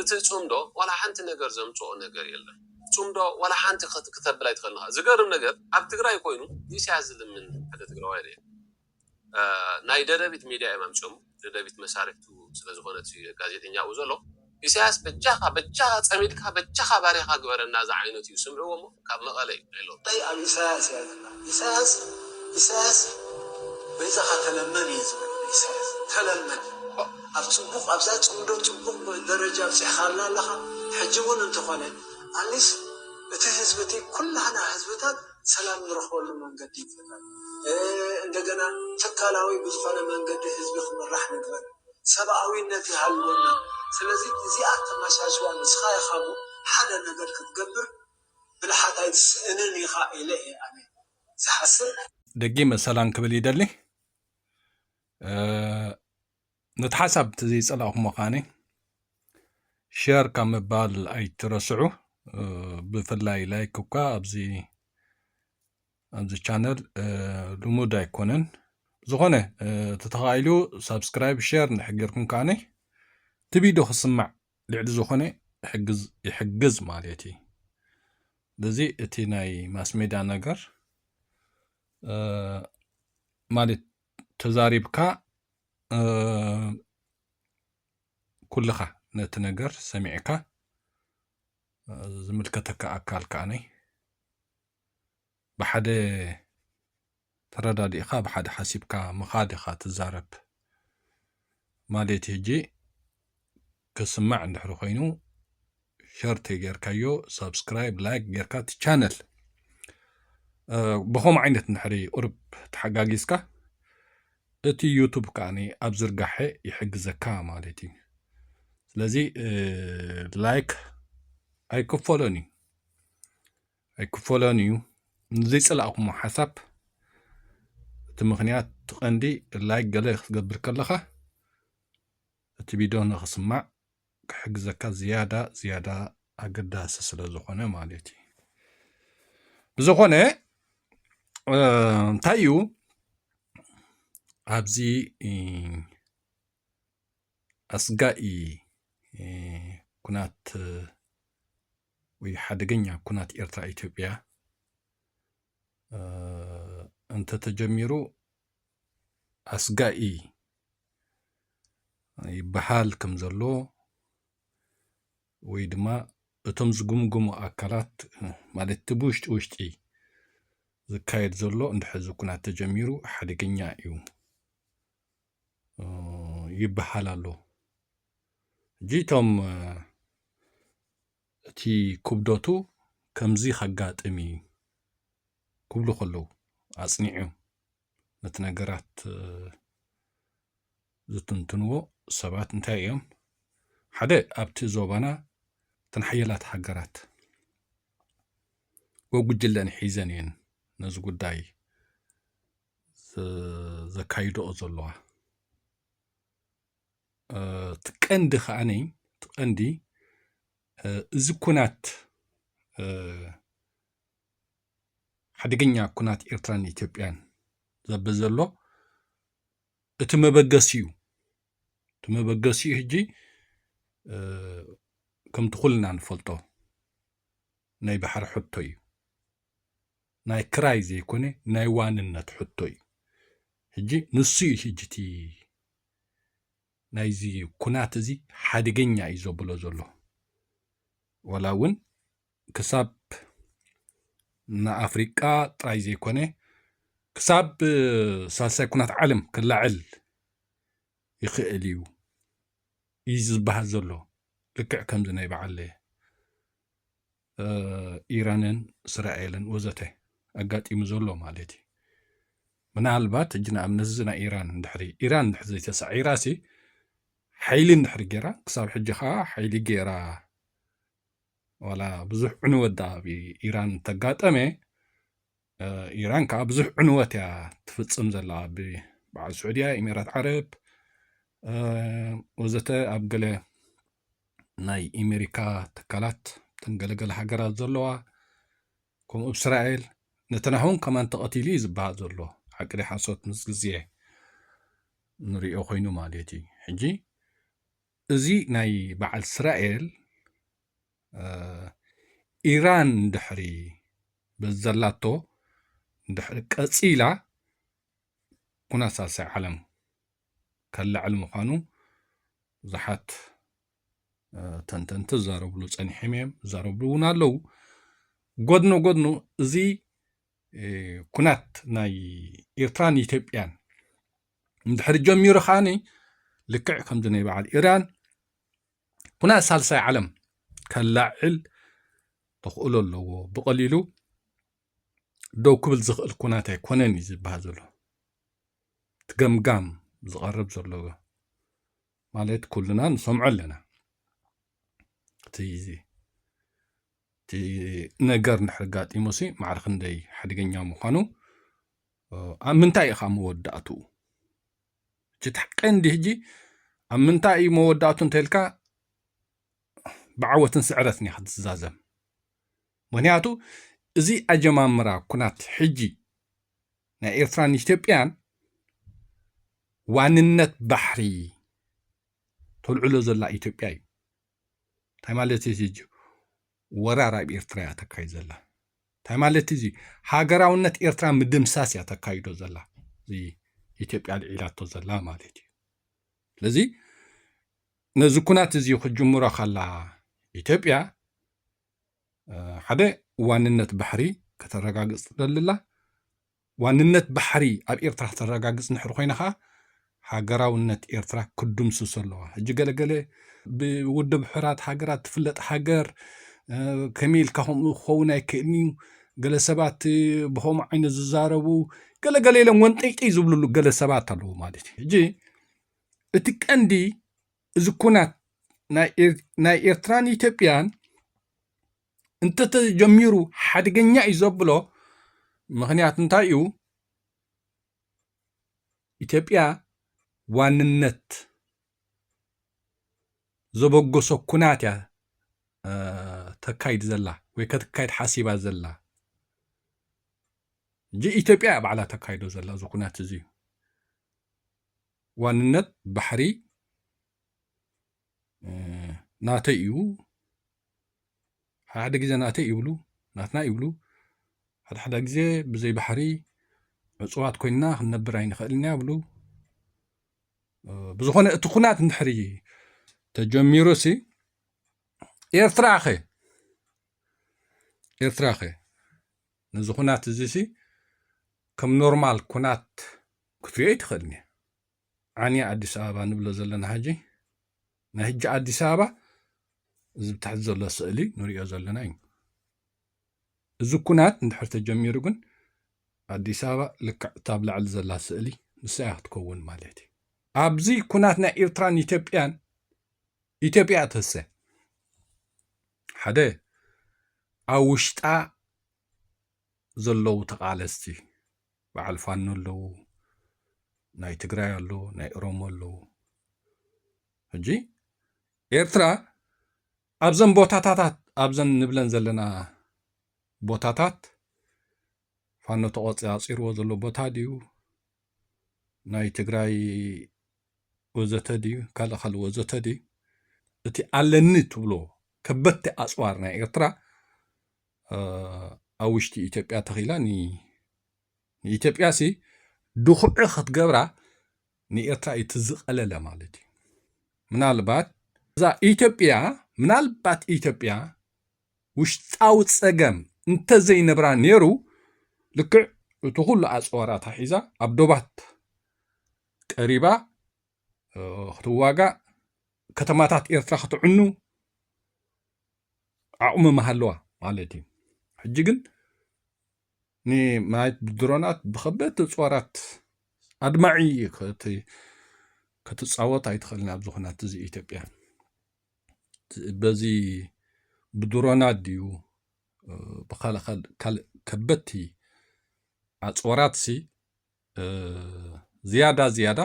እቲ ጽምዶ ዋላ ሓንቲ ነገር ዘምጽኦ ነገር የለን ጽምዶ ዋላ ሓንቲ ክተብል ኣይትክእልን ኢካ ዝገርም ነገር ኣብ ትግራይ ኮይኑ ንኢሳያስ ዝልምን ሓደ ትግራዋይ ሪኤ ናይ ደደቢት ሚድያ እዮም ኣምጽኦሞ ደደቢት መሳርሕቱ ስለ ዝኮነት እዩ ጋዜጠኛ ኣብኡ ዘሎ ኢሳያስ በጃካ በጃካ ጸሚድካ በጃካ ባርያካ ግበረና ዝዓይነቱ እዩ ስምዕዎ እሞ ካብ መቐለ ዩ ሄሎ። እንታይ ኣብ ኢሳያስ እያ ዘላ ኢሳያስ ኢሳያስ በይዛኻ ተለመን እየ ዝብል ንኢሳያስ ተለመን ኣብ ጽቡቕ ኣብዛ ጽምዶ ጽቡቕ ደረጃ ኣብጺሕኻና ኣለኻ ሕጂ ውን እንተኾነ ኣኒስ እቲ ህዝቢ እቲ ኩላህና ህዝብታት ሰላም ንረኽበሉ መንገዲ ይፈጠር እንደገና ትካላዊ ብዝኾነ መንገዲ ህዝቢ ክምራሕ ንግበር ሰብኣዊነት ይሃልወና ስለዚ እዚኣ ኣተማሻሽዋ ንስኻ ኢኻሞ ሓደ ነገር ክትገብር ብልሓት ኣይትስእንን ኢኻ ኢለ እየ ኣነ ዝሓስብ። ደጊመ ሰላም ክብል ይደሊ ነቲ ሓሳብ ተዘይጸላእኹሞ ከዓኒ ሸር ካብ ምባል ኣይትረስዑ ብፍላይ ላይክ እኳ ኣብዚ ኣብዚ ቻነል ልሙድ ኣይኮነን ዝኾነ ተተኻኢሉ ሳብስክራይብ ሸር ንሕጌርኩም ከዓኒ እቲ ቪድዮ ክስማዕ ልዕሊ ዝኾነ ይሕግዝ ይሕግዝ ማለት እዩ በዚ እቲ ናይ ማስሜዳ ነገር ማለት ተዛሪብካ ኩልኻ ነቲ ነገር ሰሚዕካ ዝምልከተካ ኣካል ከዓነይ ብሓደ ተረዳዲእካ ብሓደ ሓሲብካ ምካድ ኢካ ትዛረብ ማሌት ሂጂ ክስማዕ እንድሕሪ ኮይኑ ሸር ተይገርካዮ ሳብስክራይብ ላይክ ገርካ እቲ ቻነል ብከምኡ ዓይነት እንድሕሪ ቁርብ ተሓጋጊዝካ እቲ ዩቱብ ከዓኒ ኣብ ዝርጋሐ ይሕግዘካ ማለት እዩ ስለዚ ላይክ ኣይክፈሎን እዩ ኣይክፈሎን እዩ ንዘይጸላእኩሞ ሓሳብ እቲ ምክንያት ቀንዲ ላይክ ገለ ክትገብር ከለኻ እቲ ቪድዮ ንክስማዕ ክሕግዘካ ዝያዳ ዝያዳ ኣገዳሲ ስለ ዝኾነ ማለት እዩ ብዝኾነ እንታይ እዩ ኣብዚ ኣስጋኢ ኩናት ወይ ሓደገኛ ኩናት ኤርትራ ኢትዮጵያ እንተተጀሚሩ ኣስጋኢ ይበሃል ከም ዘሎ ወይ ድማ እቶም ዝግምግሙ ኣካላት ማለት እቲ ብውሽጢ ውሽጢ ዝካየድ ዘሎ እንድሕዚ ኩናት ተጀሚሩ ሓደገኛ እዩ ይበሓል ኣሎ እጂ እቶም እቲ ኩብዶቱ ከምዚ ከጋጥም እዩ ክብሉ ከለዉ ኣጽኒዑ ነቲ ነገራት ዝትንትንዎ ሰባት እንታይ እዮም ሓደ ኣብቲ ዞባና እተን ሓየላት ሃገራት ወጉጅለን ሒዘን እየን ነዚ ጉዳይ ዘካይድኦ ዘለዋ እቲ ቀንዲ ከዓኒ እቲ ቀንዲ እዚ ኩናት ሓደገኛ ኩናት ኤርትራን ኢትዮጵያን ዘበ ዘሎ እቲ መበገሲ እዩ እቲ መበገሲ እዩ ሕጂ ከምቲ ኩልና ንፈልጦ ናይ ባሕሪ ሕቶ እዩ ናይ ክራይ ዘይኮነ ናይ ዋንነት ሕቶ እዩ ሕጂ ንሱ እዩ ሕጂ እቲ ናይዚ ኩናት እዚ ሓደገኛ እዩ ዘብሎ ዘሎ ዋላ እውን ክሳብ ንኣፍሪቃ ጥራይ ዘይኮነ ክሳብ ሳልሳይ ኩናት ዓለም ክላዕል ይኽእል እዩ እዩ ዝበሃል ዘሎ ልክዕ ከምዚ ናይ በዓል ኢራንን እስራኤልን ወዘተ ኣጋጢሙ ዘሎ ማለት እዩ ምናልባት እጅ ንኣብነት እዚ ናይ ኢራን ድሕሪ ኢራን ድሕሪ ዘይተሳዒራ ሲ ሓይሊ ድሕሪ ገይራ ክሳብ ሕጂ ከዓ ሓይሊ ገይራ ዋላ ብዙሕ ዕንወት ዳኣ ኢራን ተጋጠመ ኢራን ከዓ ብዙሕ ዕንወት እያ ትፍፅም ዘላ ብበዓል ስዑድያ ኢሜራት ዓረብ ወዘተ ኣብ ገለ ናይ ኢሜሪካ ትካላት እተን ገለገለ ሃገራት ዘለዋ ከምኡ እስራኤል ነተናሁን ከማን ተቐቲሉ እዩ ዝበሃል ዘሎ ሓቅዲ ሓሶት ምስ ግዜ ንሪኦ ኮይኑ ማለት እዩ ሕጂ እዚ ናይ በዓል እስራኤል ኢራን ድሕሪ በዘላቶ ድሕሪ ቀፂላ ኩናት ሳልሳይ ዓለም ከላዕል ምዃኑ ብዙሓት ተንተንቲ ዝዛረብሉ ፀኒሖም እዮም ዝዛረብሉ እውን ኣለዉ ጎድኖ ጎድኖ እዚ ኩናት ናይ ኤርትራን ኢትዮጵያን እንድሕሪ ጀሚሩ ከዓኒ ልክዕ ከምዚ ናይ በዓል ኢራን ኩናት ሳልሳይ ዓለም ከላዕል ተኽእሎ ኣለዎ ብቐሊሉ ደው ክብል ዝኽእል ኩናት ኣይኮነን እዩ ዝበሃል ዘሎ እቲ ገምጋም ዝቐርብ ዘሎ ማለት ኩልና ንሰምዖ ኣለና እቲ ነገር ንድሕሪ ጋጢሙ ሲ ማዕረ ክንደይ ሓደገኛ ምዃኑ ኣብ ምንታይ ኢኻ መወዳእትኡ እቲ ቀንዲ ሕጂ ኣብ ምንታይ እዩ መወዳእቱ እንተልካ ብዓወትን ስዕረትን እያ ክትዛዘም ምክንያቱ እዚ ኣጀማምራ ኩናት ሕጂ ናይ ኤርትራን ኢትዮጵያን ዋንነት ባሕሪ ተልዕሎ ዘላ ኢትዮጵያ እዩ እንታይ ማለት እዩ እዚ ወራር ኣብ ኤርትራ እያ ተካይድ ዘላ እንታይ ማለት እዚ ሃገራውነት ኤርትራ ምድምሳስ እያ ተካይዶ ዘላ እዚ ኢትዮጵያ ልዒላቶ ዘላ ማለት እዩ ስለዚ ነዚ ኩናት እዚ ክጅምሮ ከላ ኢትዮጵያ ሓደ ዋንነት ባሕሪ ከተረጋግፅ ትደልላ ዋንነት ባሕሪ ኣብ ኤርትራ ከተረጋግጽ እንድሕሪ ኮይና ከኣ ሃገራውነት ኤርትራ ክድምስሶ ኣለዋ። ሕጂ ገለ ገለ ብውድብ ሕራት ሃገራት ትፍለጥ ሃገር ከመይ ኢልካ ከምኡ ክኸውን ኣይክእልን እዩ ገለ ሰባት ብከምኡ ዓይነት ዝዛረቡ ገለ ገለ ኢሎም ወንጠይጠይ ዝብልሉ ገለ ሰባት ኣለዉ ማለት እዩ ሕጂ እቲ ቀንዲ እዚ ኩናት ናይ ኤርትራን ኢትዮጵያን እንተተጀሚሩ ሓደገኛ እዩ ዘብሎ ምክንያት እንታይ እዩ ኢትዮጵያ ዋንነት ዘበገሶ ኩናት እያ ተካይድ ዘላ ወይ ከተካይድ ሓሲባ ዘላ እጂ ኢትዮጵያ እያ ባዕላ ተካይዶ ዘላ እዚ ኩናት እዚ እዩ ዋንነት ባሕሪ ናተይ እዩ ሓሓደ ግዜ ናተይ ይብሉ ናትና ይብሉ ሓድሓዳ ግዜ ብዘይ ባሕሪ ዕፁዋት ኮይንና ክንነብር ኣይንኽእልን ኢና ይብሉ ብዝኾነ እቲ ኩናት እንድሕሪ ተጀሚሩ ሲ ኤርትራ ኸ ኤርትራ ኸ ነዚ ኩናት እዚ ሲ ከም ኖርማል ኩናት ክትሪኦ ኣይትኽእልን እያ ዓንያ ኣዲስ ኣበባ ንብሎ ዘለና ሕጂ ናይ ሕጂ ኣዲስ ኣበባ እዚ ብታሕቲ ዘሎ ስእሊ ንሪኦ ዘለና እዩ እዚ ኩናት እንድሕር ተጀሚሩ ግን ኣዲስ ኣበባ ልክዕ እታ ኣብ ላዕሊ ዘላ ስእሊ ንሳ እያ ክትከውን ማለት እዩ ኣብዚ ኩናት ናይ ኤርትራን ኢትዮጵያን ኢትዮጵያ ተሰ ሓደ ኣብ ውሽጣ ዘለዉ ተቓለስቲ በዓል ፋኖ ኣለዉ፣ ናይ ትግራይ ኣለዉ፣ ናይ ኦሮሞ ኣለዉ። ሕጂ ኤርትራ ኣብዘን ቦታታታት ኣብዘን ንብለን ዘለና ቦታታት ፋኖ ተቖፂራፂርዎ ዘሎ ቦታ ድዩ ናይ ትግራይ ወዘተ ድዩ ካልእ ካልእ ወዘተ ድዩ እቲ ኣለኒ ትብሎ ከበድቲ ኣፅዋር ናይ ኤርትራ ኣብ ውሽጢ ኢትዮጵያ ተኺላ ንኢትዮጵያ ሲ ድኹዒ ክትገብራ ንኤርትራ እዩ ትዝቐለለ ማለት እዩ ምናልባት እዛ ኢትዮጵያ ምናልባት ኢትዮጵያ ውሽጣዊ ጸገም እንተዘይነብራ ነይሩ ልክዕ እቲ ኩሉ ኣጽዋራታ ሒዛ ኣብ ዶባት ቀሪባ ክትዋጋእ ከተማታት ኤርትራ ክትዕኑ ዓቕሚ ምሃለዋ ማለት እዩ ሕጂ ግን ንማየት ብድሮናት ብከበድቲ ጾራት ኣድማዒ ክትፃወት ኣይትኽእልን ኣብዚ ኩናት እዚ ኢትዮጵያ በዚ ብድሮናት ድዩ ብካልእ ካልእ ከበድቲ ኣፅዋራት ሲ ዝያዳ ዝያዳ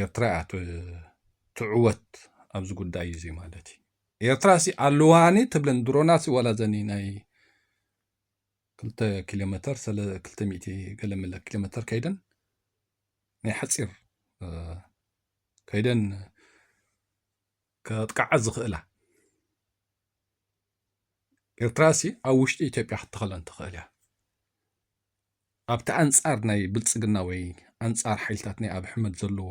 ኤርትራ እያ ትዕወት ኣብዚ ጉዳይ እዚ ማለት እዩ ኤርትራ ሲ ኣለዋኒ ትብለን ድሮና ሲ ዋላ ዘኒ ናይ ክልተ ኪሎ ሜተር ክልተ ሚእቲ ገለ መለ ኪሎ ሜተር ከይደን ናይ ሓፂር ከይደን ከጥቃዓ ዝኽእላ ኤርትራ ሲ ኣብ ውሽጢ ኢትዮጵያ ክትተኸለን ትኽእል እያ ኣብቲ ኣንጻር ናይ ብልጽግና ወይ ኣንጻር ሓይልታት ናይ ኣቢ ሕመድ ዘለዎ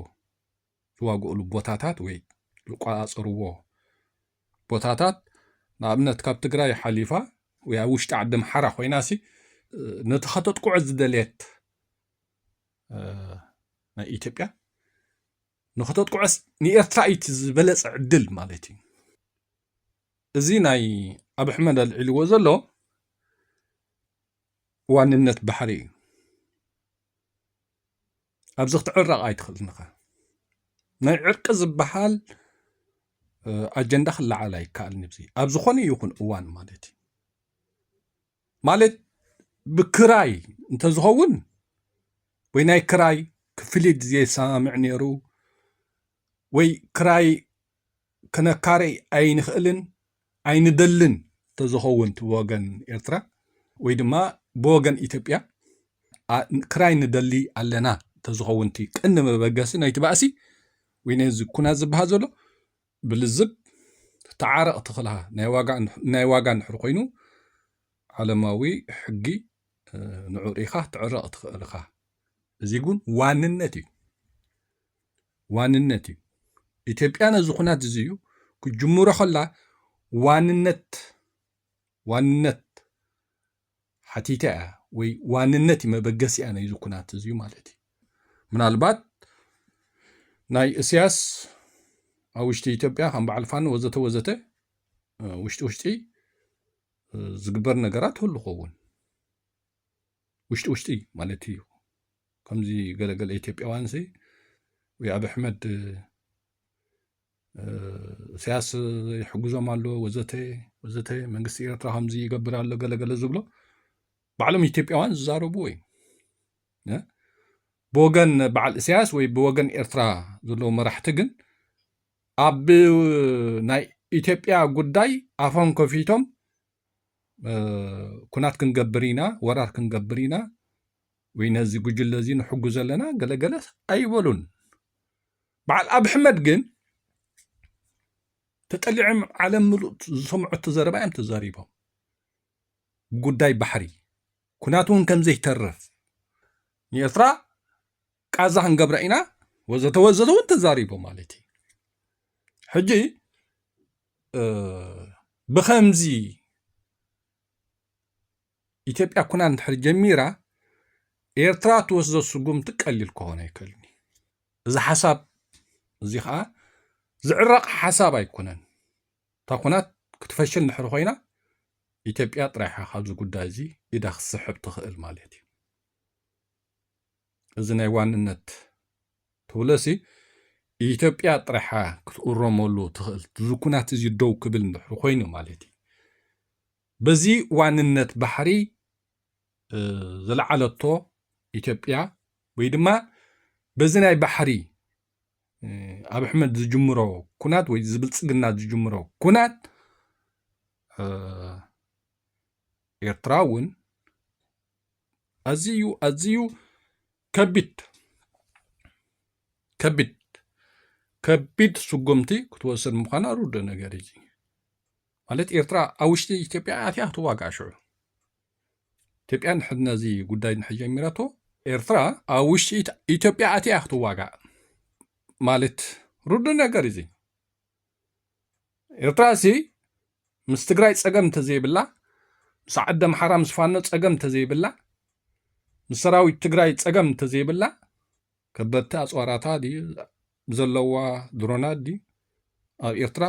ዝዋግኡሉ ቦታታት ወይ ዝቋጻጸርዎ ቦታታት ንኣብነት ካብ ትግራይ ሓሊፋ ወይ ኣብ ውሽጢ ዓዲ ምሓራ ኮይናሲ ነቲ ከተጥቅዖ ዝደልየት ናይ ኢትዮጵያ ንክተጥቅዖስ ንኤርትራ እዩ እቲ ዝበለጸ ዕድል ማለት እዩ እዚ ናይ ኣብ ኣሕመድ ኣልዒልዎ ዘሎ ዋንነት ባሕሪ እዩ ኣብዚ ክትዕረቕ ኣይትኽእልን ኢኻ ናይ ዕርቂ ዝበሃል ኣጀንዳ ክለዓል ኣይከኣልን እዚ ኣብ ዝኾነ ይኹን እዋን ማለት እዩ ማለት ብክራይ እንተዝኸውን ወይ ናይ ክራይ ክፍሊት ዘየሰማምዕ ነይሩ ወይ ክራይ ክነካርይ ኣይንኽእልን ኣይንደልን ተዝኸውን ትወገን ኤርትራ ወይ ድማ ብወገን ኢትዮጵያ ክራይ ንደሊ ኣለና ተዝኸውንቲ ቅኒ መበገሲ ናይቲ ባእሲ ወይ ነዚ ኩናት ዝበሃል ዘሎ ብልዝብ ተዓረቕ ትኽላ ናይ ዋጋ ንሕር ኮይኑ ዓለማዊ ሕጊ ንዑሪኻ ትዕረቕ ትኽእልኻ እዚ ግን ዋንነት እዩ ዋንነት እዩ። ኢትዮጵያ ነዚ ኩናት እዚዩ ክጅምሮ ከላ ዋንነት ዋንነት ሓቲታ እያ ወይ ዋንነት እዩ መበገሲያ ናይዚ ኩናት እዚዩ ማለት እዩ። ምናልባት ናይ እስያስ ኣብ ውሽጢ ኢትዮጵያ ከም በዓል ፋኖ ወዘተ ወዘተ ውሽጢ ውሽጢ ዝግበር ነገራት ህሉ ኸውን ውሽጢ ውሽጢ ማለት እዩ። ከምዚ ገለ ገለ ኢትዮጵያውያንሲ ወይ ኣብ ኣሕመድ እሰያስ ይሕግዞም ኣሎ ወዘተ ወዘተ መንግስቲ ኤርትራ ከምዚ ይገብር ኣሎ ገለገለ ዝብሎ ባዕሎም ኢትዮጵያውያን ዝዛረብዎ እዩ ብወገን በዓል እሰያስ ወይ ብወገን ኤርትራ ዘለዎ መራሕቲ ግን ኣብ ናይ ኢትዮጵያ ጉዳይ ኣፎም ከፊቶም ኩናት ክንገብር ኢና ወራር ክንገብር ኢና ወይ ነዚ ጉጅለ እዚ ንሕግዞ ኣለና ገለ ገለ ኣይበሉን በዓል ኣብ ሕመድ ግን ተጠሊዖም ዓለም ምሉእ ዝሰምዐቶ ዘረባ እዮም ተዛሪቦም ጉዳይ ባሕሪ ኩናት እውን ከም ዘይተርፍ ንኤርትራ ቃዛ ክንገብራ ኢና ወዘተ ወዘተ እውን ተዛሪቦ ማለት እዩ ሕጂ ብከምዚ ኢትዮጵያ ኩናት እንድሕር ጀሚራ ኤርትራ ትወስዶ ስጉምቲ ቀሊል ክኾን ኣይክእልን እዩ። እዚ ሓሳብ እዚ ከዓ ዝዕረቕ ሓሳብ ኣይኮነን። እታ ኩናት ክትፈሽል እንድሕር ኮይና ኢትዮጵያ ጥራይሓ ካብዚ ጉዳይ እዚ ኢዳ ክትስሕብ ትኽእል ማለት እዩ። እዚ ናይ ዋንነት ትብለሲ ኢትዮጵያ ጥራሓ ክትእረመሉ ትኽእል ዝኩናት እዚ ደው ክብል እንድሕር ኮይኑ ማለት እዩ በዚ ዋንነት ባሕሪ ዝለዓለቶ ኢትዮጵያ ወይ ድማ በዚ ናይ ባሕሪ ኣብ ኣሕመድ ዝጅምሮ ኩናት ወይ ዝብልፅግና ዝጅምሮ ኩናት ኤርትራ እውን ኣዝዩ ኣዝዩ ከቢድ ከቢድ ከቢድ ስጉምቲ ክትወስድ ምዃና ርዱእ ነገር እዩ። ማለት ኤርትራ ኣብ ውሽጢ ኢትዮጵያ ኣትያ ክትዋጋእ ሽዑ ኢትዮጵያ ንሕድ ነዚ ጉዳይ ንሕ ጀሚረቶ ኤርትራ ኣብ ውሽጢ ኢትዮጵያ ኣትያ ክትዋጋእ ማለት ርዱ ነገር እዚ ኤርትራ እዚ ምስ ትግራይ ፀገም እንተዘይብላ ምስ ዓዲ ኣምሓራ ምስ ፋኖ ፀገም እንተዘይብላ ምስ ሰራዊት ትግራይ ፀገም እንተዘይብላ ከበድቲ ኣፅዋራታ ድዩ ዘለዋ ድሮናት ድዩ ኣብ ኤርትራ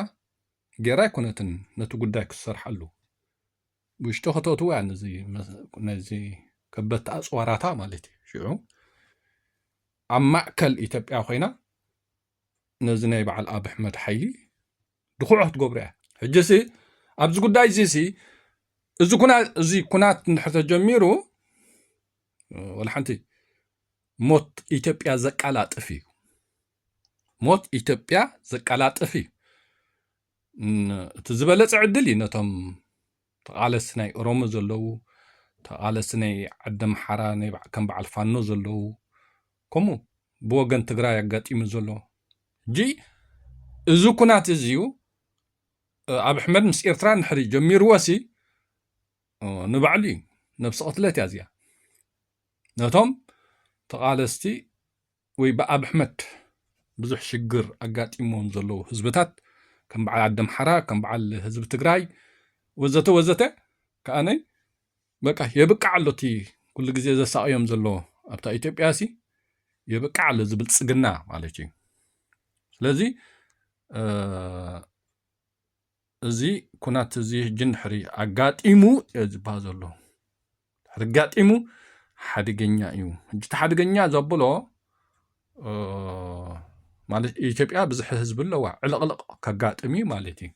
ጌራ ኣይኮነትን ነቲ ጉዳይ ክትሰርሓሉ ውሽጢ ከተእትዎ እያ ነዚ ነዚ ከበድቲ ኣፅዋራታ ማለት እዩ ሽዑ ኣብ ማእከል ኢትዮጵያ ኮይና ነዚ ናይ በዓል ኣብ ኣሕመድ ሓይሊ ድኹዕ ክትገብሮ እያ ሕጂሲ ኣብዚ ጉዳይ እዚ ሲ እዚ ኩና እዚ ኩናት እንድሕር ተጀሚሩ ወላ ሓንቲ ሞት ኢትዮጵያ ዘቃላጥፍ እዩ ሞት ኢትዮጵያ ዘቀላጥፍ እዩ እቲ ዝበለፀ ዕድል እዩ ነቶም ተቓለስቲ ናይ ኦሮሞ ዘለዉ ተቓለስቲ ናይ ዓዲ ኣምሓራ ከም በዓል ፋኖ ዘለዉ ከምኡ ብወገን ትግራይ ኣጋጢሙ ዘሎ እጂ እዚ ኩናት እዚ እዩ ኣብ ኣሕመድ ምስ ኤርትራ ንሕሪ ጀሚርዎሲ ንባዕሉ እዩ ነብሲ ቅትለት እያ እዚኣ ነቶም ተቓለስቲ ወይ ብኣብሕመድ ብዙሕ ሽግር ኣጋጢምዎም ዘለዉ ህዝብታት ከም በዓል ዓዲ ኣምሓራ ከም በዓል ህዝቢ ትግራይ ወዘተ ወዘተ ከኣ በቃ የብቅዕ ኣሎ እቲ ኩሉ ግዜ ዘሳቕዮም ዘሎ ኣብታ ኢትዮጵያ ሲ የብቅዕ ኣሎ እዚ ብልፅግና ማለት እዩ ስለዚ እዚ ኩናት እዚ ሕጂ ድሕሪ ኣጋጢሙ እዮ ዝበሃል ዘሎ ድሕሪ ኣጋጢሙ ሓደገኛ እዩ ሕጂ እቲ ሓደገኛ ዘብሎ ማለት ኢትዮጵያ ብዝሒ ህዝቢ ኣለዋ ዕልቕልቕ ከጋጥም እዩ ማለት እዩ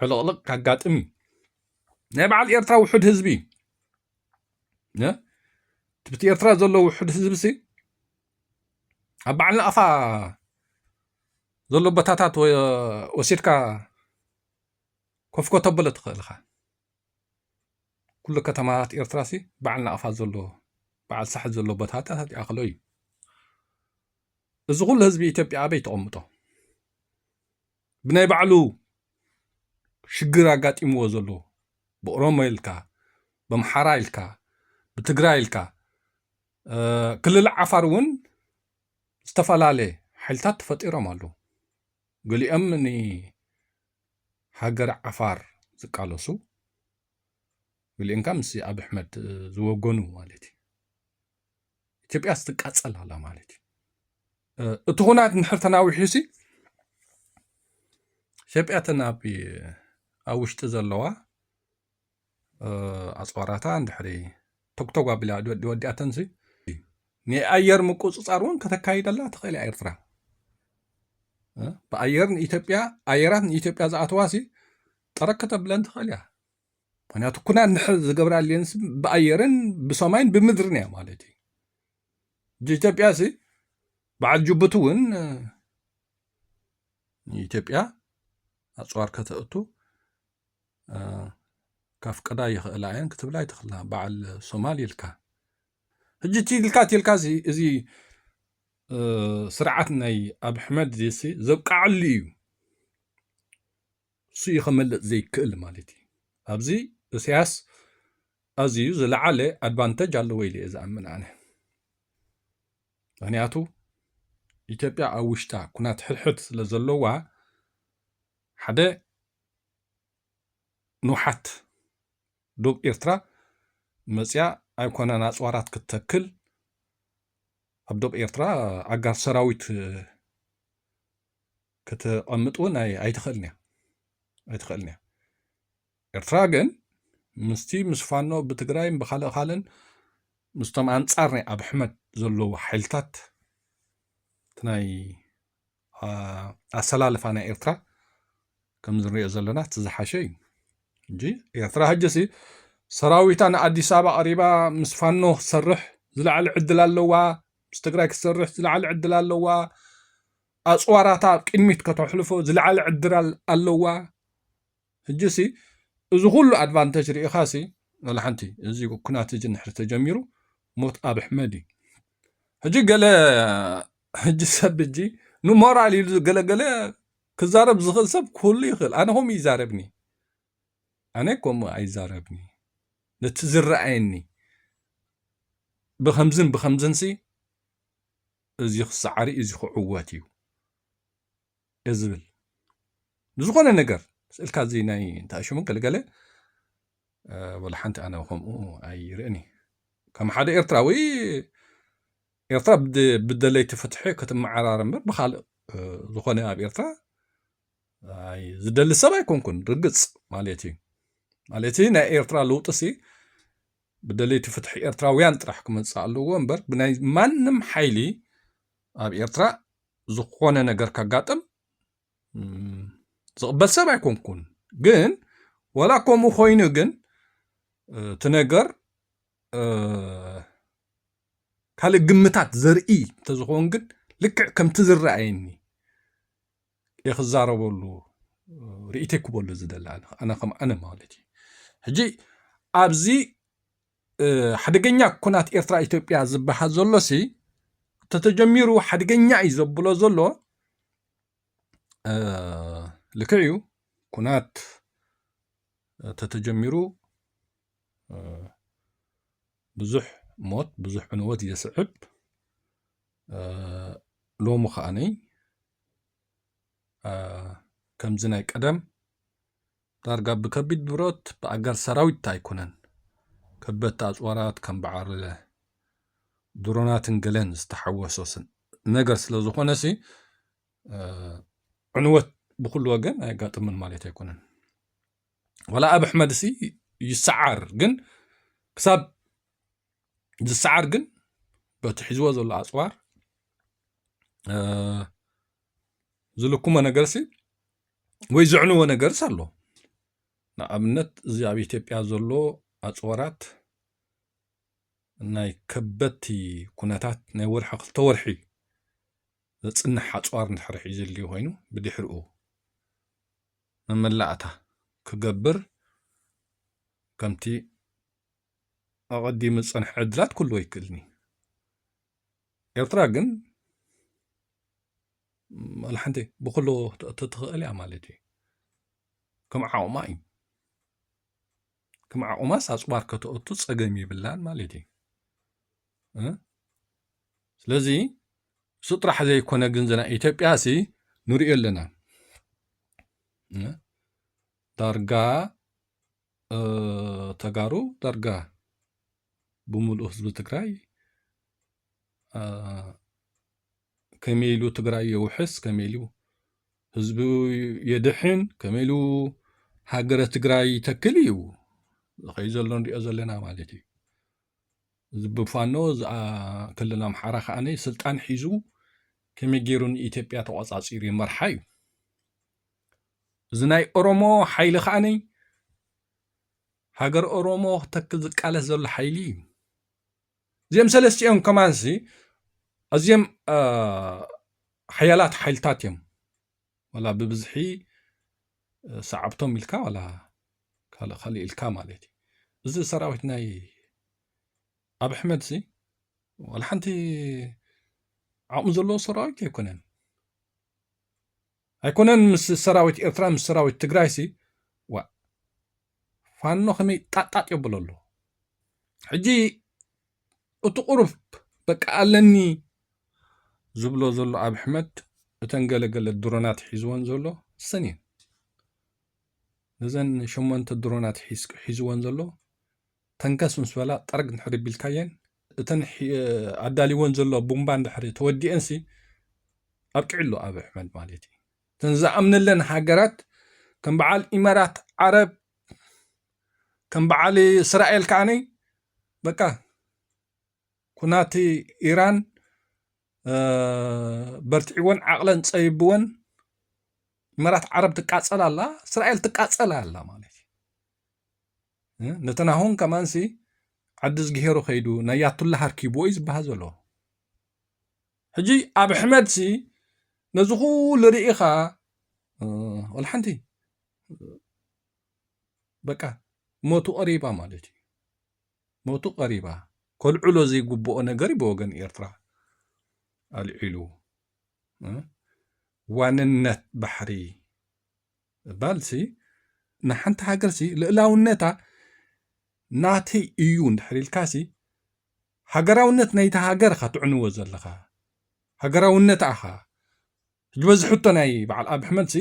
ዕልቕልቕ ከጋጥም እዩ ናይ በዓል ኤርትራ ውሑድ ህዝቢ እዩ ትብቲ ኤርትራ ዘሎ ውሑድ ህዝቢ ሲ ኣብ በዓል ናቕፋ ዘሎ ቦታታት ወሲድካ ኮፍኮ ተብሎ ትኽእል ኢኻ። ኩሉ ከተማታት ኤርትራ ሲ በዓል ናቕፋ ዘሎ በዓል ሳሕል ዘሎ ቦታታት ይኣኽሎ እዩ። እዚ ኩሉ ህዝቢ ኢትዮጵያ ኣበይ ተቐምጦ? ብናይ ባዕሉ ሽግር ኣጋጢምዎ ዘሎ ብኦሮሞ ኢልካ ብኣምሓራ ኢልካ ብትግራይ ኢልካ ክልል ዓፋር እውን ዝተፈላለየ ሓይልታት ተፈጢሮም ኣለዉ። ገሊኦም ንሃገረ ዓፋር ዝቃለሱ፣ ገሊኦም ከኣ ምስ ኣብይ ኣሕመድ ዝወገኑ ማለት እዩ። ኢትዮጵያስ ትቃጸል ኣላ ማለት እዩ። እቲ ኩናት እንድሕር ተናዊሑሲ ኢትዮጵያ እተን ኣብ ኣብ ውሽጢ ዘለዋ ኣጽዋራታ እንድሕሪ ቶግቶግ ኣቢላ ወዲኣተንሲ ናይ ኣየር ምቁፅፃር እውን ከተካይደላ ትኽእል እያ ኤርትራ ብኣየር ንኢትዮጵያ ኣየራት ንኢትዮጵያ ዝኣተዋ ሲ ጠረክ ከተብለን ትኽእል እያ ምክንያቱ ኩና ንሕ ዝገብራ ሌንስ ብኣየርን ብሰማይን ብምድርን እያ ማለት እዩ ኢትዮጵያ ሲ በዓል ጅቡቲ እውን ንኢትዮጵያ ኣፅዋር ከተእቱ ካፍቀዳ ይኽእላ እየን ክትብላ ይትኽላ በዓል ሶማል ኢልካ ሕጂ እቲ ኢልካ እቲ ኢልካ እዚ ስርዓት ናይ ኣብ ሕመድ ዜሲ ዘብቃዓሉ እዩ እሱ እዩ ከመልጥ ዘይክእል ማለት እዩ ኣብዚ እሰያስ ኣዝዩ ዝለዓለ ኣድቫንተጅ ኣለዎ ኢለ እየ ዝኣምን ኣነ ምክንያቱ ኢትዮጵያ ኣብ ውሽጣ ኩናት ሕድሕድ ስለ ዘለዋ ሓደ ንውሓት ዶብ ኤርትራ መጽያ ኣይኮነን ኣጽዋራት ክትተክል ኣብ ዶብ ኤርትራ ኣጋር ሰራዊት ከተቐምጥ እውን ኣይትኽእልን እያ ኣይትኽእልን እያ ኤርትራ ግን ምስቲ ምስ ፋኖ ብትግራይን ብካልእ ካልእን ምስቶም ኣንጻር ናይ ኣብ ሕመድ ዘለዉ ሓይልታት ናይ ኣሰላልፋ ናይ ኤርትራ ከም ዝንሪኦ ዘለና እቲ ዝሓሸ እዩ እንጂ ኤርትራ ሕጂሲ ሰራዊታ ንኣዲስ ኣበባ ቀሪባ ምስ ፋኖ ክትሰርሕ ዝለዓለ ዕድል ኣለዋ ምስ ትግራይ ክትሰርሕ ዝለዓለ ዕድል ኣለዋ ኣፅዋራታ ቅድሚት ከተሕልፎ ዝለዓለ ዕድል ኣለዋ ሕጂ ሲ እዚ ኩሉ ኣድቫንተጅ ሪኢኻ ሲ ዋላ ሓንቲ እዚ ኩናት እዚ ንድሕሪ ተጀሚሩ ሞት ኣብ ኣሕመድ እዩ ሕጂ ገለ ሕጂ ሰብ ሕጂ ንሞራል ኢሉ ገለገለ ክዛረብ ዝኽእል ሰብ ኩሉ ይኽእል ኣነ ከምኡ ይዛረብኒ ኣነ ከምኡ ኣይዛረብኒ ነቲ ዝረኣየኒ ብከምዝን ብከምዝንሲ እዚ ክሰዓሪ እዚ ክዕወት እዩ ዝብል ንዝኾነ ነገር ስእልካ እዚ ናይ እንታይ ሽሙ ገለገለ ወላ ሓንቲ ኣነ ከምኡ ኣይርእን እዩ ከም ሓደ ኤርትራዊ ኤርትራ ብደለይቲ ፍትሒ ክትመዓራር እምበር ብካልእ ዝኾነ ኣብ ኤርትራ ዝደሊ ሰብ ኣይኮንኩን ርግፅ ማለት እዩ ማለት ናይ ኤርትራ ለውጢ ሲ ብደለይቲ ፍትሒ ኤርትራውያን ጥራሕ ክመጽእ ኣለዎ እምበር ብናይ ማንም ሓይሊ ኣብ ኤርትራ ዝኾነ ነገር ከጋጥም ዝቕበል ሰብ ኣይኮንኩን። ግን ወላ ከምኡ ኮይኑ ግን እቲ ነገር ካልእ ግምታት ዘርኢ እንተዝኸውን ግን ልክዕ ከምቲ ዝረኣየኒ ክዛረበሉ ርእይተይ ክበሉ ዝደሊ ኣነ ከም ኣነ ማለት እዩ ሕጂ ኣብዚ ሓደገኛ ኩናት ኤርትራ ኢትዮጵያ ዝበሃል ዘሎሲ ተተጀሚሩ ሓደገኛ እዩ ዘብሎ ዘሎ ልክዕ እዩ ኩናት ተተጀሚሩ ብዙሕ ሞት ብዙሕ ዕንወት የስዕብ ሎሚ ከዓኒ ከምዚ ናይ ቀደም ዳርጋ ብከቢድ ብረት ብኣጋር ሰራዊት ኣይኮነን ከበድቲ ኣፅዋራት ከም በዓል ድሮናትን ገለን ዝተሓወሶ ነገር ስለ ዝኾነሲ ዕንወት ብኩሉ ወገን ኣየጋጥምን ማለት ኣይኮነን ወላ ኣብ ኣሕመድሲ ይሰዓር ግን ክሳብ ዝሰዓር ግን በቲ ሒዝዎ ዘሎ ኣፅዋር ዝልክሞ ነገርሲ ወይ ዘዕንዎ ነገርስ ኣሎ ንኣብነት እዚ ኣብ ኢትዮጵያ ዘሎ ኣፅዋራት ናይ ከበድቲ ኩነታት ናይ ወርሒ ክልተ ወርሒ ዘፅንሕ ኣፅዋር እንድሕር ሒዙ ዘልዩ ኮይኑ ብድሕሪኡ መመላእታ ክገብር ከምቲ ኣቐዲሙ ዝጸንሐ ዕድላት ኩሉ ኣይክእልን'ዩ። ኤርትራ ግን ዋላ ሓንቲ ብኹሉ ተትኽእል እያ ማለት እዩ ከም ዓቕማ እዩ ከም ዓቕማስ ኣፅዋር ከተእቱ ፀገም ይብላን ማለት እዩ ስለዚ እሱ ጥራሕ ዘይኮነ ግን ዝና ኢትዮጵያ ሲ ንሪኦ ኣለና ዳርጋ ተጋሩ ዳርጋ ብምሉእ ህዝቢ ትግራይ ከመይ ኢሉ ትግራይ የውሕስ ከመይ ኢሉ ህዝቢ የድሕን ከመይ ኢሉ ሃገረ ትግራይ ይተክል እዩ ዝኸይ ዘሎ ንሪኦ ዘለና ማለት እዩ እዚ ብፋኖ ክልል ኣምሓራ ከዓ ስልጣን ሒዙ ከመይ ገይሩ ንኢትዮጵያ ተቆፃፂሩ ይመርሓ እዩ እዚ ናይ ኦሮሞ ሓይሊ ከዓኒ ሃገር ኦሮሞ ክተክል ዝቃለስ ዘሎ ሓይሊ እዩ እዚኦም ሰለስትኦም ከማንሲ ኣዝዮም ሓያላት ሓይልታት እዮም ዋላ ብብዝሒ ሰዓብቶም ኢልካ ዋላ ካልእ ካልእ ኢልካ ማለት እዩ እዚ ሰራዊት ናይ ኣብ ኣሕመድ ሲ ዋላ ሓንቲ ዓቕሚ ዘለዎ ሰራዊት ኣይኮነን ኣይኮነን ምስ ሰራዊት ኤርትራ ምስ ሰራዊት ትግራይሲ ዋእ ፋኖ ከመይ ጣጣጥ የብሎ ኣሎ ሕጂ እቲ ቁሩብ በቃ ኣለኒ ዝብሎ ዘሎ ኣብ ሕመድ እተን ገለገለ ድሮናት ሒዝወን ዘሎ ሰን እየን ነዘን ሸሞንተ ድሮናት ሒዝወን ዘሎ ተንከስ ምስ በላ ጠርግ እንድሕሪ ቢልካየን እተን ኣዳልይወን ዘሎ ቡምባ እንድሕሪ ተወዲኤንሲ ኣብቂዕሉ ኣብይ ኣሕመድ ማለት እዩ። እተን ዝኣምነለን ሃገራት ከም በዓል ኢመራት ዓረብ ከም በዓል እስራኤል ከዓነይ በቃ ኩናት ኢራን በርትዒወን ዓቕለን ፀቢብወን መራት ዓረብ ትቃፀል ኣላ እስራኤል ትቃፀል ኣላ ማለት እዩ ነተናሆን ከማንሲ ዓዲዝጊሄሩ ከይዱ ናይ ያቱላ ሃርኪብዎ እዩ ዝበሃል ዘሎ ሕጂ ኣብ ሕመድሲ ነዚ ኩሉ ርኢኻ ወላ ሓንቲ በቃ ሞቱ ቀሪባ ማለት እዩ ሞቱ ቀሪባ ከልዕሎ ዘይግብኦ ነገር እዩ ብወገን ኤርትራ ኣልዒሉ ዋንነት ባሕሪ ምባልሲ ንሓንቲ ሃገርሲ ልእላውነታ ናተይ እዩ እንድሕር ኢልካሲ ሃገራውነት ናይቲ ሃገር እኻ ትዕንዎ ዘለኻ ሃገራውነታ እኻ ሕጂ በዚ ሕቶ ናይ በዓል ኣብ ሕመድሲ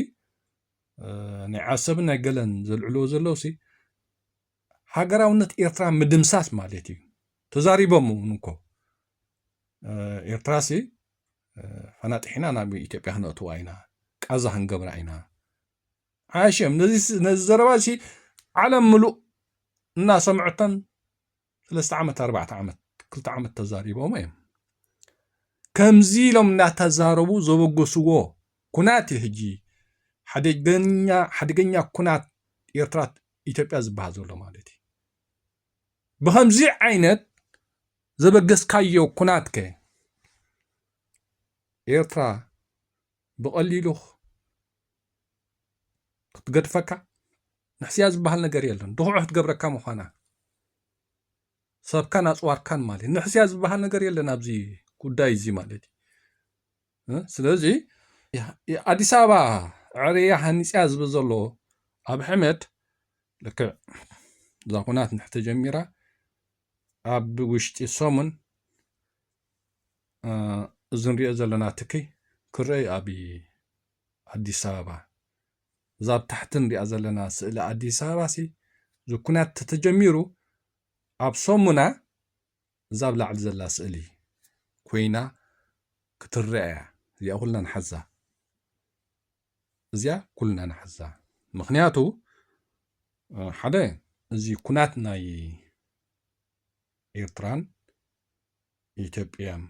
ናይ ዓሰብን ናይ ገለን ዘልዕልዎ ዘለውሲ ሃገራውነት ኤርትራ ምድምሳስ ማለት እዩ ተዛሪቦም እውን እኮ ኤርትራሲ ፈናጢሕና ናብ ኢትዮጵያ ክነእትዋ ኢና ቃዛ ክንገብራ ኢና ዓሸም ነዚ ዘረባ እዚ ዓለም ምሉእ እናሰምዐተን ሰለስተ ዓመት ኣርባዕተ ዓመት ክልተ ዓመት ተዛሪቦም እዮም ከምዚ ኢሎም እናተዛረቡ ዘበገስዎ ኩናት እዩ ሕጂ ሓደገኛ ሓደገኛ ኩናት ኤርትራ ኢትዮጵያ ዝበሃል ዘሎ ማለት እዩ ብከምዚ ዓይነት ዘበገስካዮ ኩናት ከ ኤርትራ ብቐሊሉ ክትገድፈካ ንሕስያ ዝበሃል ነገር የለን ድኹዕ ክትገብረካ ምዃና ሰብካን ኣፅዋርካን ማለት ንሕስያ ዝበሃል ነገር የለን ኣብዚ ጉዳይ እዚ ማለት እዩ ስለዚ ኣዲስ ኣበባ ዕርያ ሃኒፅያ ዝብል ዘሎ ኣብ ሕመድ ልክዕ እዛ ኩናት ንሕተጀሚራ ኣብ ውሽጢ ሰሙን እዚ ንሪኦ ዘለና ትክይ ክረአ እዩ ኣብ ኣዲስ ኣበባ እዛ ኣብ ታሕቲ ንሪኣ ዘለና ስእሊ ኣዲስ ኣበባ ሲ እዚ ኩናት ተተጀሚሩ ኣብ ሰሙና እዛ ኣብ ላዕሊ ዘላ ስእሊ ኮይና ክትረአ እያ እዚኣ ኩልና ንሓዛ እዚኣ ኩልና ንሓዛ ምክንያቱ ሓደ እዚ ኩናት ናይ ኤርትራን ኢትዮጵያን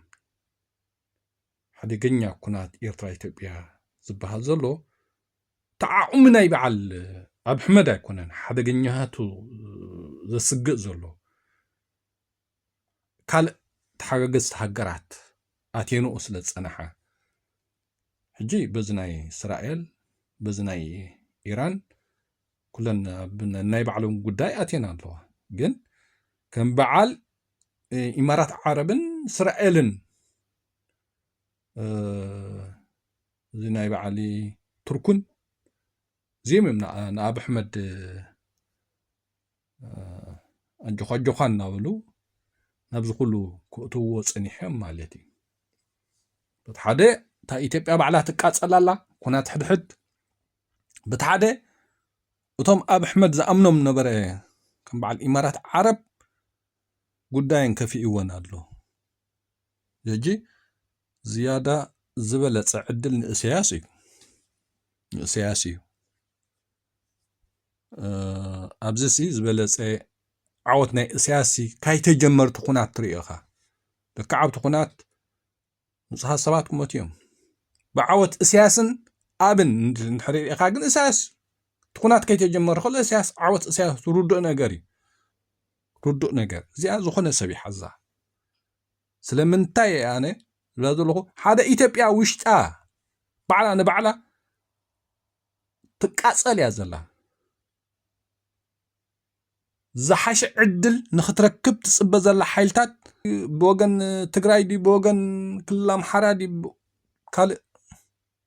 ሓደገኛ ኩናት ኤርትራ ኢትዮጵያ ዝበሃል ዘሎ ተዓቑሚ ናይ በዓል ኣብ ሕመድ ኣይኮነን ሓደገኛቱ ዘስግእ ዘሎ ካልእ ተሓጋገዝቲ ሃገራት ኣትየንኦ ስለ ዝጸናሓ ሕጂ በዚ ናይ እስራኤል በዚ ናይ ኢራን ኩለን ኣብ ናይ ባዕሎም ጉዳይ ኣትየን ኣለዋ ግን ከም በዓል ኢማራት ዓረብን እስራኤልን እዚ ናይ በዓሊ ቱርኩን እዚኦም እዮም ንኣብ ኣሕመድ ኣጆዃ ኣጆዃ እናበሉ ናብዚ ኩሉ ክእትውዎ ፀኒሖም ማለት እዩ በቲ ሓደ እታ ኢትዮጵያ ባዕላ ትቃፀል ኣላ ኩናት ሕድሕድ በቲ ሓደ እቶም ኣብ ኣሕመድ ዝኣምኖም ነበረ ከም በዓል ኢማራት ዓረብ ጉዳየን ከፊእወን ኣሎ ሕጂ ዝያዳ ዝበለጸ ዕድል ንእሰያስ እዩ ንእሰያስ እዩ ኣብዚ ሲ ዝበለጸ ዓወት ናይ እሰያስ ሲ ካይተጀመርቲ ኩናት ትርእዮ ኢኻ ደካ ዓብቲ ኩናት ንጹሃት ሰባት ክመት እዮም ብዓወት እሰያስን ኣብን ንሕርኢኻ ግን እሰያስ ትኩናት ከይተጀመረ ከሎ እሰያስ ዓወት እሰያስ ትርድኦ ነገር እዩ ርዱእ ነገር እዚኣ ዝኾነ ሰብ ይሓዛ ስለምንታይ እየ ኣነ ዝብላ ዘለኹ ሓደ ኢትዮጵያ ውሽጣ ባዕላ ንባዕላ ትቃፀል እያ ዘላ ዝሓሸ ዕድል ንክትረክብ ትፅበ ዘላ ሓይልታት ብወገን ትግራይ ድዩ ብወገን ክልል ኣምሓራ ድዩ ካልእ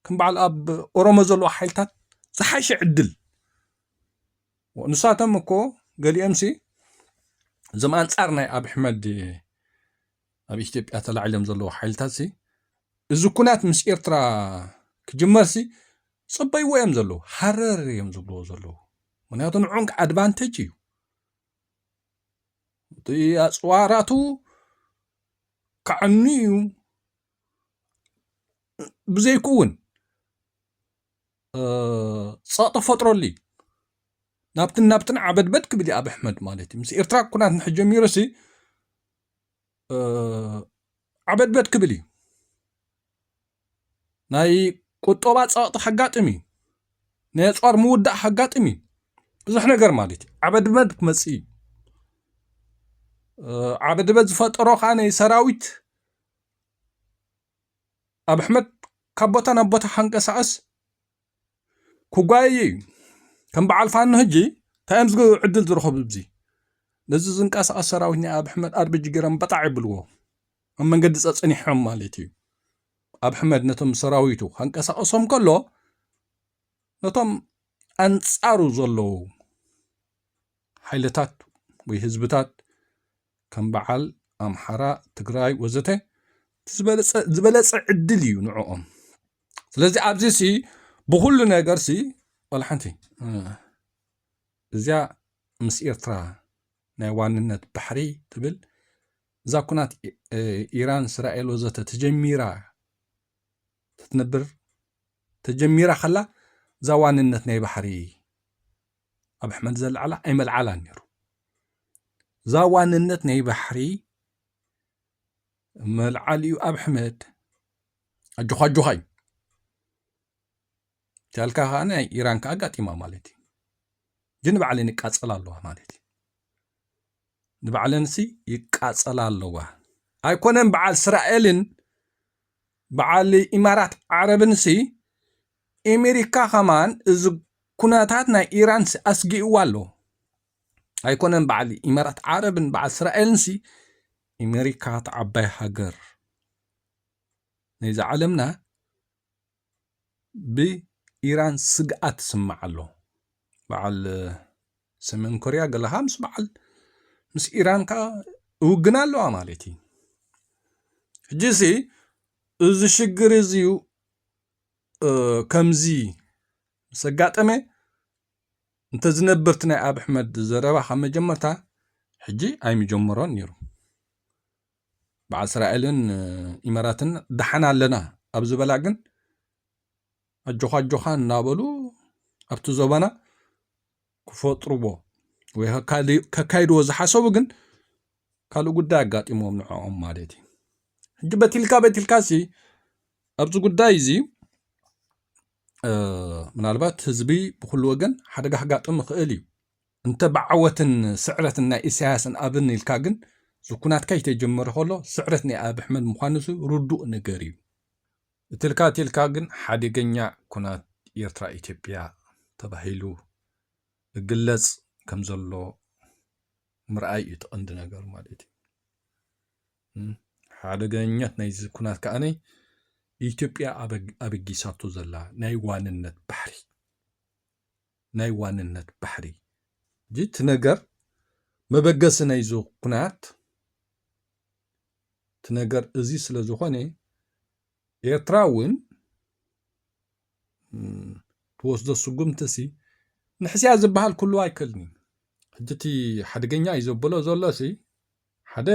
ከም በዓል ኣብ ኦሮሞ ዘለዉ ሓይልታት ዝሓሸ ዕድል ንሳቶም እኮ ገሊኦምሲ እዞም ኣንጻር ናይ ኣብ ሕመድ ኣብ ኢትዮጵያ ተላዒሎም ዘለዉ ሓይልታትሲ እዚ ኩናት ምስ ኤርትራ ክጅመርሲ ጽበይዎ እዮም ዘለዉ ሃረር እዮም ዝብልዎ ዘለዉ ምክንያቱ ንዑንክ ኣድቫንቴጅ እዩ እቲ ኣፅዋራቱ ከዕኑ እዩ ብዘይክኡ እውን ፀቕጢ ክፈጥረሉ እዩ። ናብትን ናብትን ዓበድበድ ክብል እዩ ኣብይ ኣሕመድ ማለት እዩ። ምስ ኤርትራ ኩናት እንድሕር ጀሚሩሲ ዓበድበድ ክብል እዩ። ናይ ቁጠባ ፀቕጢ ከጋጥም እዩ። ናይ ኣፅዋር ምውዳእ ከጋጥም እዩ። ብዙሕ ነገር ማለት እዩ። ዓበድበድ ክመፅእ እዩ። ዓበድበድ ዝፈጠሮ ከዓ ናይ ሰራዊት ኣብ ኣሕመድ ካብ ቦታ ናብ ቦታ ሓንቀሳቐስ ኩጓየየ እዩ ከም በዓል ፋኖ ሕጂ እንታይ እዮም ዝገብሩ ዕድል ዝረኸቡ እዙ ነዚ ዝንቀሳቐስ ሰራዊት ናይ ኣብ ኣሕመድ ኣርቢጂ ገይሮም በጣዕ ይብልዎ ኣብ መንገዲ ጸጸኒሖም ማለት እዩ ኣብ ኣሕመድ ነቶም ሰራዊቱ ካንቀሳቐሶም ከሎ ነቶም ኣንጻሩ ዘለዉ ሓይልታት ወይ ህዝብታት ከም በዓል ኣምሓራ ትግራይ ወዘተ ዝበለፀ ዕድል እዩ ንዕኦም ስለዚ ኣብዚ ሲ ብኩሉ ነገር ሲ ዋላ ሓንቲ እዚኣ ምስ ኤርትራ ናይ ዋንነት ባሕሪ ትብል እዛ ኩናት ኢራን እስራኤል ወዘተ ተጀሚራ ትትነብር ተጀሚራ ከላ እዛ ዋንነት ናይ ባሕሪ ኣብ ሕመድ ዘለዓላ ኣይመልዓላን ነይሩ እዛ ዋንነት ናይ ባሕሪ መልዓሊኡ ኣብ ሕመድ ኣጆኻ ኣጆኻ እዩ ጃልካ ከዓ ናይ ኢራን ከዓ ኣጋጢማ ማለት እዩ ግን ንባዕለን ይቃፀላ ኣለዋ ማለት እዩ ንባዕለንሲ ይቃፀላ ኣለዋ ኣይኮነን በዓል እስራኤልን በዓል ኢማራት ዓረብንሲ ኤሜሪካ ከማን እዚ ኩነታት ናይ ኢራን ሲ ኣስጊእዋ ኣሎ ኣይኮነን በዓል ኢመራት ዓረብን በዓል እስራኤልን ሲ ኤሜሪካ ተዓባይ ሃገር ናይዚ ዓለምና ብኢራን ስግኣት ስማዕ ኣሎ በዓል ሰሜን ኮርያ ገለኻ ምስ በዓል ምስ ኢራን ከዓ እውግና ኣለዋ ማለት እዩ ሕጂ እዚ ሽግር እዚዩ ከምዚ ምስ ኣጋጠመ እንተዝነብርቲ ናይ ኣብ ኣሕመድ ዘረባ ካብ መጀመርታ ሕጂ ኣይምጀመሮን ነይሩ በዓል እስራኤልን ኢመራትን ደሓን ኣለና ኣብ ዝበላ ግን ኣጆኻ ኣጆኻ እናበሉ ኣብቲ ዞባና ክፈጥርዎ ወይ ከካይድዎ ዝሓሰቡ ግን ካልእ ጉዳይ ኣጋጢሞም ንዕኦም ማለት እዩ ሕጂ በቲልካ በቲልካ ሲ ኣብዚ ጉዳይ እዚ ምናልባት ህዝቢ ብኩሉ ወገን ሓደጋ ክጋጥም ይኽእል እዩ እንተ ብዓወትን ስዕረትን ናይ ኢሳያስን ኣብን ኢልካ ግን ዝኩናትካ ይተጀመረ ከሎ ስዕረት ናይ ኣብ ኣሕመድ ምዃኑ ርዱእ ነገር እዩ እትልካ እትልካ ግን ሓደገኛ ኩናት ኤርትራ ኢትዮጵያ ተባሂሉ እግለጽ ከም ዘሎ ምርኣይ እዩ እቲ ቀንዲ ነገር ማለት እዩ። ሓደገኛት ናይዚ ኩናት ከኣነ ኢትዮጵያ ኣበጊሳቶ ዘላ ናይ ዋንነት ባሕሪ ናይ ዋንነት ባሕሪ። ሕጂ እቲ ነገር መበገሲ ናይዚ ኩናት እቲ ነገር እዚ ስለ ዝኾነ ኤርትራ እውን ትወስዶ ስጉምቲሲ ንሕስያ ዝበሃል ክህልዎ ኣይክእልን እዩ። ሕጂ እቲ ሓደገኛ እዩ ዘብሎ ዘሎሲ ሓደ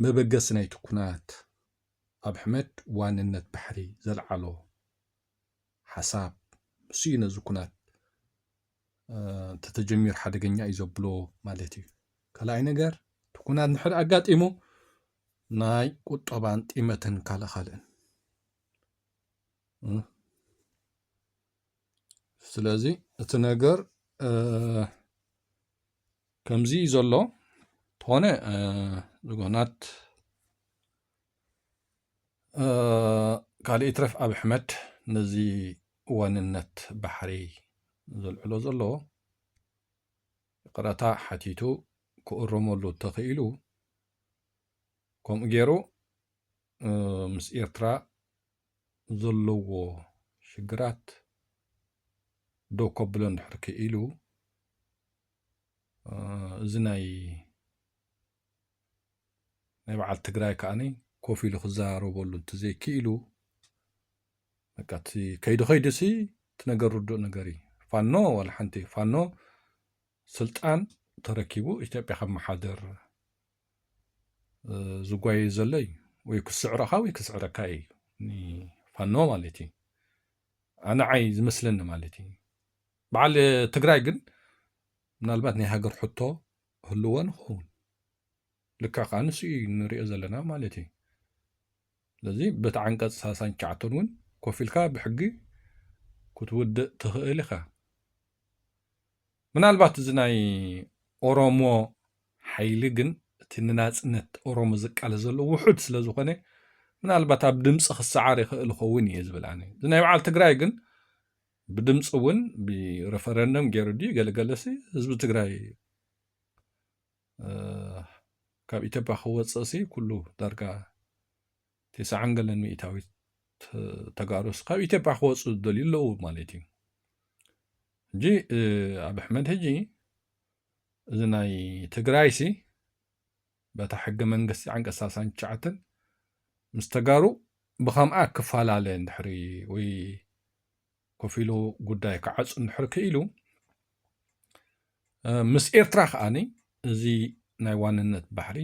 መበገሲ ናይቲ ኩናት ኣብ ሕመድ ዋንነት ባሕሪ ዘልዓሎ ሓሳብ ንሱ እዩ ነዚ ኩናት እንተተጀሚሩ ሓደገኛ እዩ ዘብሎ ማለት እዩ ካልኣይ ነገር እቲ ኩናት ንሕር ኣጋጢሙ ናይ ቁጠባን ጢመትን ካልእ ካልእን ስለዚ እቲ ነገር ከምዚ ዘሎ ተኾነ ዝጎናት ካልእ ይትረፍ ኣብ ኣሕመድ ነዚ ዋንነት ባሕሪ ዘልዕሎ ዘሎ ይቕረታ ሓቲቱ ክእረመሉ ተኽኢሉ ከምኡ ገይሩ ምስ ኤርትራ ዘለዎ ሽግራት ደው ከብሎ እንድሕር ክኢሉ እዚ ናይ ናይ በዓል ትግራይ ከዓኒ ኮፍ ኢሉ ክዘራረበሉ እንተዘይክኢሉ በቃ እቲ ከይዲ ከይዱሲ እቲ ነገር ርዱእ ነገር እዩ ፋኖ ዋላ ሓንቲ ፋኖ ስልጣን ተረኪቡ ኢትዮጵያ ከመሓደር ዝጓየ ዘሎ እዩ ወይ ክስዕረኻ ወይ ክስዕረካ እዩ ፋኖ ማለት እዩ ኣነዓይ ዝመስለኒ ማለት እዩ በዓል ትግራይ ግን ምናልባት ናይ ሃገር ሕቶ ክህልዎ ንኸውን ልክዕ ከዓ ንሱ እዩ ንሪኦ ዘለና ማለት እዩ ስለዚ በቲ ዓንቀፅ ሳሳን ቻዕቶን እውን ኮፍ ኢልካ ብሕጊ ክትውድእ ትኽእል ኢኻ ምናልባት እዚ ናይ ኦሮሞ ሓይሊ ግን እቲ ንናፅነት ኦሮሞ ዝቃለስ ዘሎ ውሑድ ስለ ዝኾነ ምናልባት ኣብ ድምፂ ክሰዓር ይኽእል ይኸውን እየ ዝብል ኣነ እዚ ናይ በዓል ትግራይ ግን ብድምፂ እውን ብረፈረንደም ገይሩ ድዩ ገለ ገለሲ ህዝቢ ትግራይ ካብ ኢትዮጵያ ክወፅእ ሲ ኩሉ ዳርጋ ቴስዓን ገለን ሚእታዊት ተጋሩስ ካብ ኢትዮጵያ ክወፁ ዝደልዩ ኣለዉ ማለት እዩ ሕጂ ኣብ ኣሕመድ ሕጂ እዚ ናይ ትግራይሲ በታ ሕገ መንግስቲ ዓንቀፅ ሰላሳን ትሽዓተን ምስ ተጋሩ ብኸምኣ ክፈላለ እንድሕሪ ወይ ኮፍ ኢሉ ጉዳይ ክዓፁ እንድሕሪ ክኢሉ ምስ ኤርትራ ከዓኒ እዚ ናይ ዋንነት ባሕሪ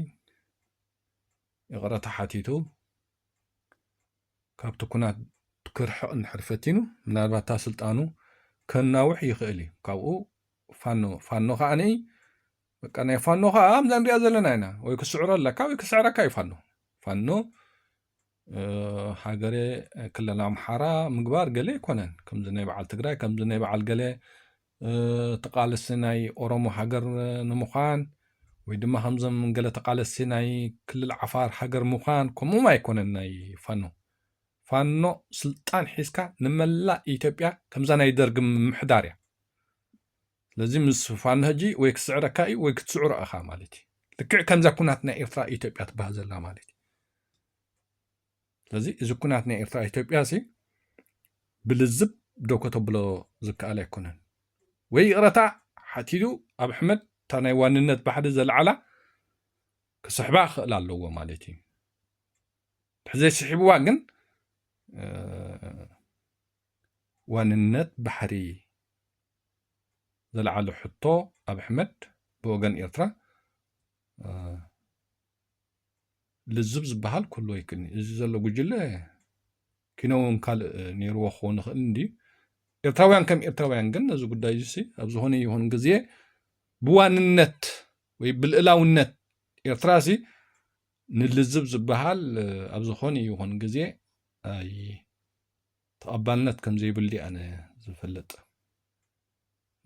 ይቕረታ ሓቲቱ ካብቲ ኩናት ክርሕቕ እንድሕር ፈቲኑ ምናልባት እታ ስልጣኑ ከናውሕ ይኽእል እዩ ካብኡ ፋኖ ፋኖ ከዓኒ በቃ ናይ ፋኖ ከዓ ኣብዛ ንሪኣ ዘለና ኢና ወይ ክስዕሮ ኣለካ ወይ ክስዕረካ እዩ ፋኖ ፋኖ ሃገረ ክልል ኣምሓራ ምግባር ገለ ኣይኮነን ከምዚ ናይ በዓል ትግራይ ከምዚ ናይ በዓል ገለ ተቃልሲ ናይ ኦሮሞ ሃገር ንምዃን ወይ ድማ ከምዞም ገለ ተቃለሲ ናይ ክልል ዓፋር ሃገር ምዃን ከምኡም ኣይኮነን ናይ ፋኖ ፋኖ ስልጣን ሒዝካ ንመላእ ኢትዮጵያ ከምዛ ናይ ደርጊ ምምሕዳር እያ ስለዚ ምስ ፋኖ ሕጂ ወይ ክስዕረካ እዩ ወይ ክትስዕሮ እኻ ማለት እዩ ልክዕ ከምዛ ኩናት ናይ ኤርትራ ኢትዮጵያ ትበሃል ዘላ ማለት እዩ ስለዚ እዚ ኩናት ናይ ኤርትራ ኢትዮጵያ ሲ ብልዝብ ዶ ከተብሎ ዝከኣል ኣይኮነን ወይ ይቕረታ ሓቲቱ ኣብ ኣሕመድ እታ ናይ ዋንነት ባሕሪ ዘልዓላ ክስሕባ ክኽእል ኣለዎ ማለት እዩ ብሕዘይስሒብዋ ግን ዋንነት ባሕሪ ዘልዓሎ ሕቶ ኣብ ኣሕመድ ብወገን ኤርትራ ልዝብ ዝበሃል ኩሉ ኣይክእልኒ እዚ ዘሎ ጉጅለ ኪነውን ካልእ ነይርዎ ክኸውን ይኽእል እንድዩ ኤርትራውያን ከም ኤርትራውያን ግን ነዚ ጉዳይ እዚ ኣብ ዝኾነ ይኹን ግዜ ብዋንነት ወይ ብልእላውነት ኤርትራ እዚ ንልዝብ ዝበሃል ኣብ ዝኾነ ይኹን ግዜ ተቐባልነት ከም ዘይብሉ እዩ ኣነ ዝፈልጥ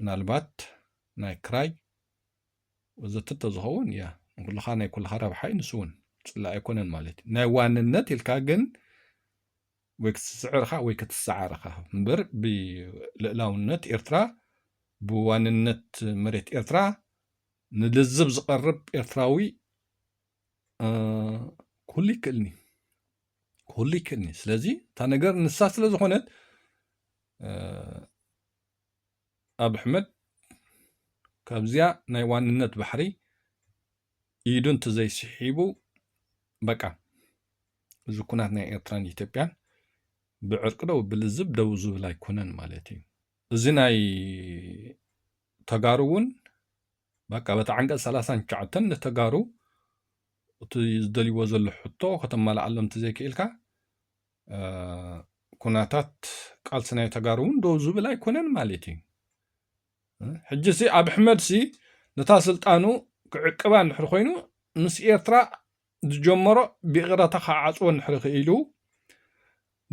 ምናልባት ናይ ክራይ ወዘተ ተዝኸውን እያ ንኩልኻ ናይ ኩልኻ ረብሓ እዩ ንሱ እውን ፅላእ ኣይኮነን ማለት እዩ ናይ ዋንነት ኢልካ ግን ወይ ክትስዕር ኢኻ ወይ ክትሰዓር ኢኻ እምበር ብልእላውነት ኤርትራ ብዋንነት መሬት ኤርትራ ንልዝብ ዝቐርብ ኤርትራዊ ኩሉ ይክእልኒ ኩሉ ይክእልኒ ስለዚ እታ ነገር ንሳ ስለ ዝኾነት ኣብ ኣሕመድ ካብዚያ ናይ ዋንነት ባሕሪ ኢዱ እንተዘይስሒቡ በቃ እዚ ኩናት ናይ ኤርትራን ኢትዮጵያን ብዕርቂ ደው ብልዝብ ደው ዝብል ኣይኮነን ማለት እዩ እዚ ናይ ተጋሩ እውን በቃ በቲ ዓንቀፅ ሰላሳን ትሽዓተን ንተጋሩ እቲ ዝደልይዎ ዘሎ ሕቶ ከተማልኣሎም እንተዘይክኢልካ ኩነታት ቃልሲ ናይ ተጋሩ እውን ደው ዝብል ኣይኮነን ማለት እዩ ሕጂ ሲ ኣብ ኣሕመድ ሲ ነታ ስልጣኑ ክዕቅባ እንድሕር ኮይኑ ምስ ኤርትራ ዝጀመሮ ብይቕረታ ክዓጽዎ እንድሕሪ ክኢሉ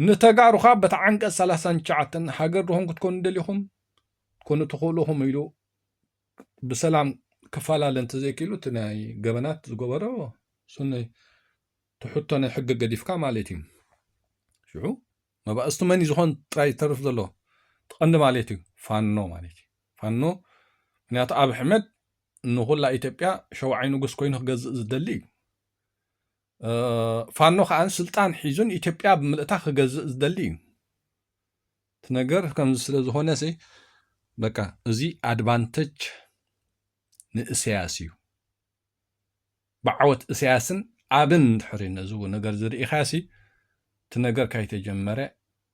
ንተጋሩኻ በቲ ዓንቀጽ ሰላሳን ትሽዓተን ሃገር ድኹም ክትኮኑ ደሊኹም ትኮኑ ትኽእሉኹም ኢሉ ብሰላም ክፈላለ እንተዘይክኢሉ እቲ ናይ ገበናት ዝገበሮ ስነይ ትሕቶ ናይ ሕጊ ገዲፍካ ማለት እዩ ሽዑ መባእስቱ መን ዝኾን ጥራይ ዝተርፍ ዘሎ እቲ ቀንዲ ማሌት እዩ ፋኖ ማሌት እዩ ፋኖ ምክንያቱ ኣብይ ኣሕመድ ንኹላ ኢትዮጵያ ሸውዓይ ንጉስ ኮይኑ ክገዝእ ዝደሊ እዩ ፋኖ ከዓ ስልጣን ሒዙን ኢትዮጵያ ብምልእታ ክገዝእ ዝደሊ እዩ እቲ ነገር ከምዚ ስለ ዝኾነ ሲ በቃ እዚ ኣድቫንተጅ ንእሰያስ እዩ ብዓወት እሰያስን ኣብን እንድሕሪ ነዚ ነገርዚ ርኢኻሲ እቲ ነገር ካይተጀመረ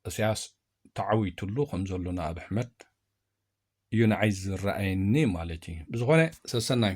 እሰያስ ተዓዊትሉ ከምዘሎ ንኣቢ ኣሕመድ እዩ ንዓይ ዝረኣየኒ ማለት እዩ ብዝኾነ ሰሰናዩ።